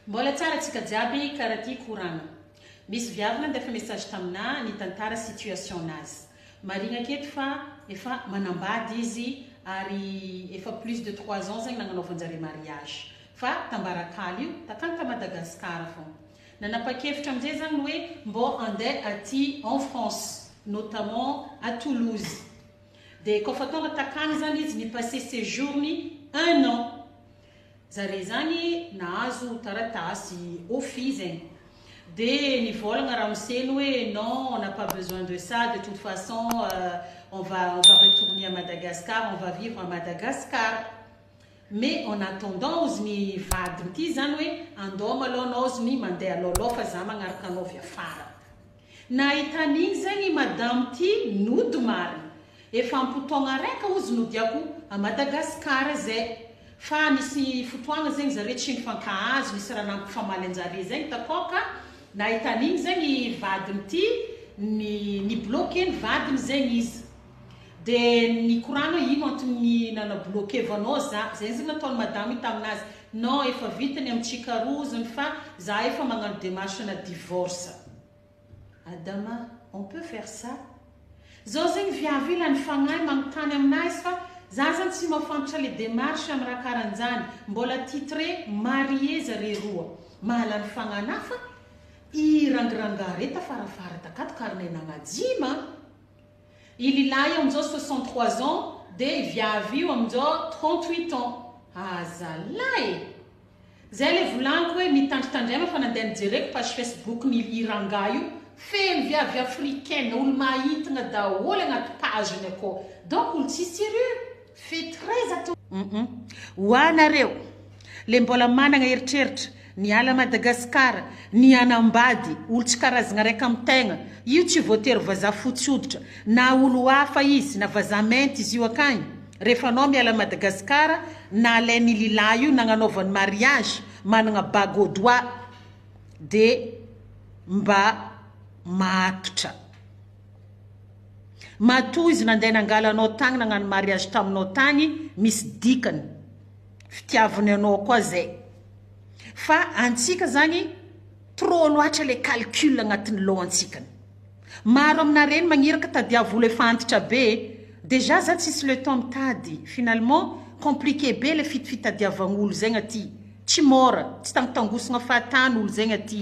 Mbola tsara tsika jiaby kara ty koragna. Misy viavy nandefa message taminà nitantara situation nazy. Marigna aketo fa efa manambady izy ary efa plus de trois ans zegny nagnanaovanjare mariage fa tambarakala io takagny ta Madagascar fogna. Nanapakevitra amzay zah ny hoe mbô andeh aty en France notamment à Toulouse. Dia koa fa tonga takany zany izy ni passer séjour ny un an zare zany nahazo taratasy office eh! Dia nivôlagna ramose ny hoe non on n'a pas besoin de ça de toute façon on va on va retourner à Madagascar on va vivre à Madagascar mais en attendant ozy ny vadiny ty zany hoe andao malao anao ozy ny mandeha alôlao fa za magnaraka anao avy afara. Nahita an'iny zay ny madamo ty nody marina. Efa ampotaogna raika ozy nodiako a Madagascar zay. Fa nisy fotoagna zegny zare tsy nifankahazo nisy raha nampifamaly anjare zay ntakao ka. Nahita an'igny zay ny vadiny ty ni ni bloquer ny vadiny zegny izy. De nikorana ino antony nana bloquer vanao za zay zany nataony madama io taminazy non efa vita ny am tsikarozony fa za efa magnano demarche ana divorce adama on peut faire ça zao zegny viavy io lany fagnahy magnontany aminazy fa za zany tsy mafantatra le demarche am raha karanjany mbola titre marie zare roa mahalany fagnahy na fa i rangirangah re tafarafara takato karine nagnajiama I lilahy io amin'izao soixante trois ans dia i viavy io amin'izao trente huit ans. Ah zalah e! Zay le volaniko hoe mitandritandry aina fa nandeha nijereko page Facebook ny i rangahy io feno viavy africaine olo-mahintigna daholo agnaty page-ny akao donc olo tsisy sérieux. Fetreza to humm ho anareo le mbola managna eritreritra ny ala Madagascar ny hanambady olo tsy karazagna raika am tegna io tsy voatery vazaha fotsy hoditra na olo hafa izy na vazaha mainty izy io akagny refa anao miala Madagascar na alain i lilahy io nagnanaovany mariage managna bague au doigt de mba mahatotra. Matoa izy nandeha nangala anao tagny nagnano mariage taminao tagny misy dikany fitiavany anao koa zay fa antsika zany trop loatra le calcul agnatin'ny lohan-tsikany maro amina reny magniraka tadiavolo efa antitra be dejà za tsisy le temps mitady finalement compliqué be le fitfitadiavagn'olo zegny aty tsy môra tsy tangotangosagna fahatany olo zegny aty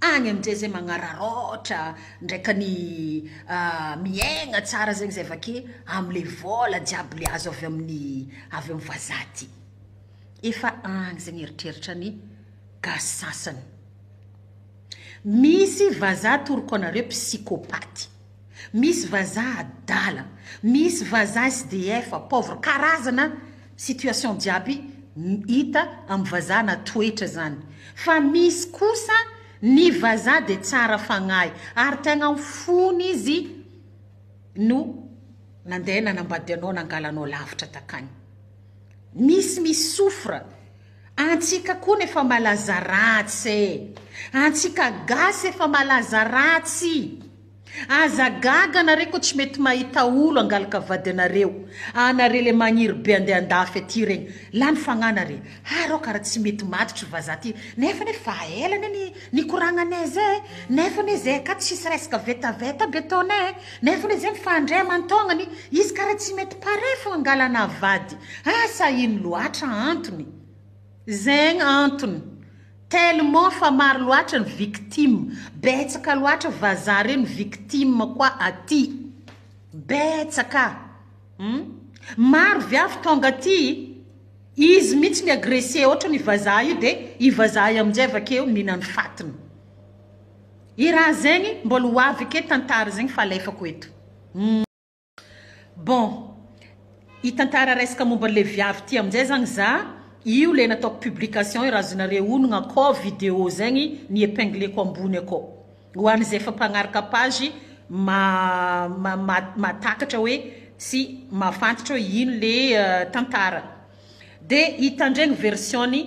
Any amin'izay izay magnararaotra ndraika ny miaigna tsara zegny zay vake amle vôla jiaby le azo avy amin'ny avy amin'ny vazaha ty. Efa agny zegny eritreritra ny gasy sasany. Misy vazaha atoroko anareo psychopathe. Misy vazaha adala, misy vazaha SDF pauvre karazana situation jiaby hita am vazaha na toetra zany fa misy kosa ny vazaha de tsara fagnahy ary tegna am fony izy no nandeha nanambady anao nangala anao lavitra takagny misy mi souffre Antsika kony efa malaza ratsy e! Antsika gasy efa malaza ratsy! Aza gaga anare ko tsy mety mahita olo angalaka vady anareo anare le magniry be ande andafy aty regny lany fagnahy nare ha reo kara tsy mety matotry vaza ty nefa anie fa ela anie ni nikoragna ne zay nefa anie zay akato tsisy resaka vetaveta be ataonay Nefa le zay fa ndray amantaognany izy kara tsy mety pare fô angalana vady asa ino loatra antony zegny antony tellement fa maro loatra ny victime betsaka loatra vazaha regny victime koa aty betsaka hum maro viavy tonga aty izy mintsy mi agresse otrany vazaha io de i vazaha io amizay avakeo minany fatiny. I raha zegny mbola ho avy ake tantara zegny fa alefako eto humm bon i tantara resaka momba le viavy ty amzay zagny za io le nataoko publication io raha azonareo onogna akao video zegny ny epingleko ambony akao ho any ze efa mpagnaraka page mahatakatra hoe sy mahafantatra hoe ino le tantara de hitandregny version ny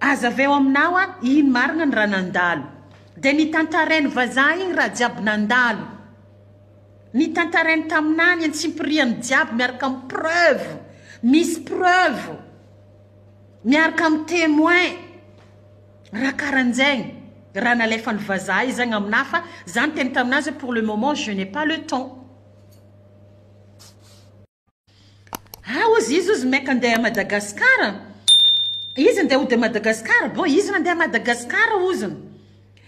Aza avy eo aminao a! Iny marina ny raha nandalo. Dia ny tantarainy vazaha iny raha jiaby nandalo. Ny tantarainy taminà ny antsipiriany jiaby miaraka amin'ny preuve. Misy preuve. Miaraka amin'ny témoin. Raha karan'izegny. Raha nalefan'ny vazaha izagny aminà fa za niteny tamin'azy hoe pour le moment je n'ai pas le temps. Ah ozy izy ozy meka ndeha à Madagascar a, izy ndeha hody à Madagascar, bon izy nandeha à Madagascar ozy,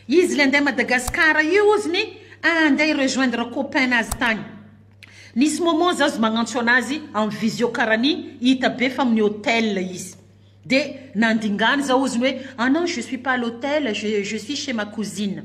izy le ndeha à Madagascar io oziny handeha hi rejoindre copain nazy tany, nisy moment za ozy magnantso anazy en visio karany hita be fa amin'ny hotel izy, de nandingany za oziny hoe ah non je suis pas à l'hotel je suis chez ma cousine.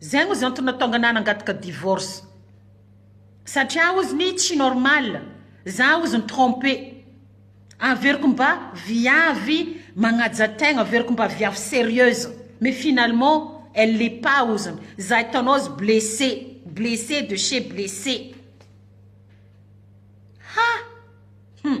Zay ozy antony natonga anah nangataka divorce satria ozy ny tsy normal za ozy ny trompe averiko mba viavy magnaja tegna averiko mba viavy serieuse mais finalement elle l'est pas ozy ny za hitanao ozy blesse blesse de chez blesse ha hum.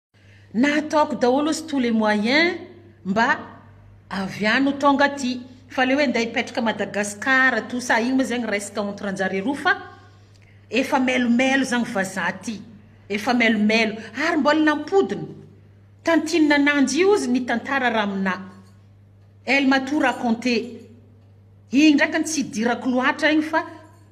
Na ataoko daholo ozy tous les moyens mba avy any ho tonga aty. Fa le hoe ndeha hipetraka Madagascar tout ça iny moa zegny resaka entre anjare roa fa efa melomelo zagny vazaha aty. Efa melomelo. Ary mbola nampodina. Tantinina ananjy io ozy ny tantara raha aminah. Elle m'a tout raconte. Igny ndraiky tsy hidirako loatra igny fa.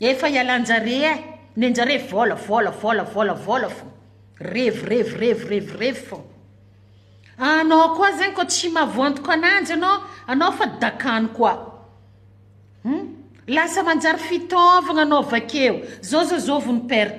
Efa ialanjare eh! nenjare vola vola vola vola vola fô! revy revy revy revy revy fô! anao koa zegny koa tsy mavoantoko ananjy anao anao fa dakany koa hum! lasa manjary fitaovagna anao vakeo zao zao zao vao ni perte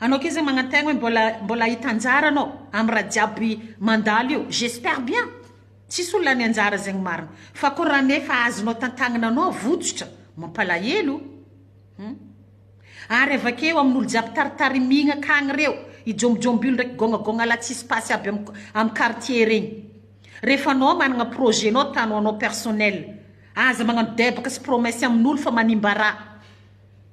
Anao kizza magnantegna hoe mbola mbola hahita anjara anao am raha jiaby mandalo io j'espère bien tsisy olona any anjara zegny marigny fa ko raha nefa azonao tantagnana anao votsotra mampalahelo hum ary avakeo amin'olo jiaby taritarimigna akagny reo i jombijombilo ndraiky gôgnagôgnalahy tsisy pasy aby am am quartier regny refa anao magnana projet nao ta ho anao personnel aza magnano debaka sy promesse amin'olo fa manimba raha.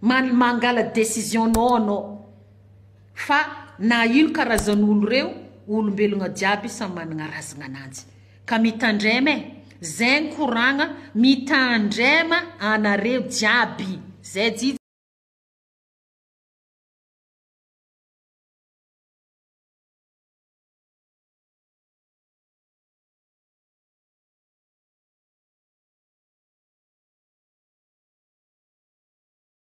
Manl mangala decision nao anao fa na ino karazan olo reo olombelogna jiaby samy managna razagna ananjy ka mitandrema eh zegny koragna mitandrema anareo jiaby zay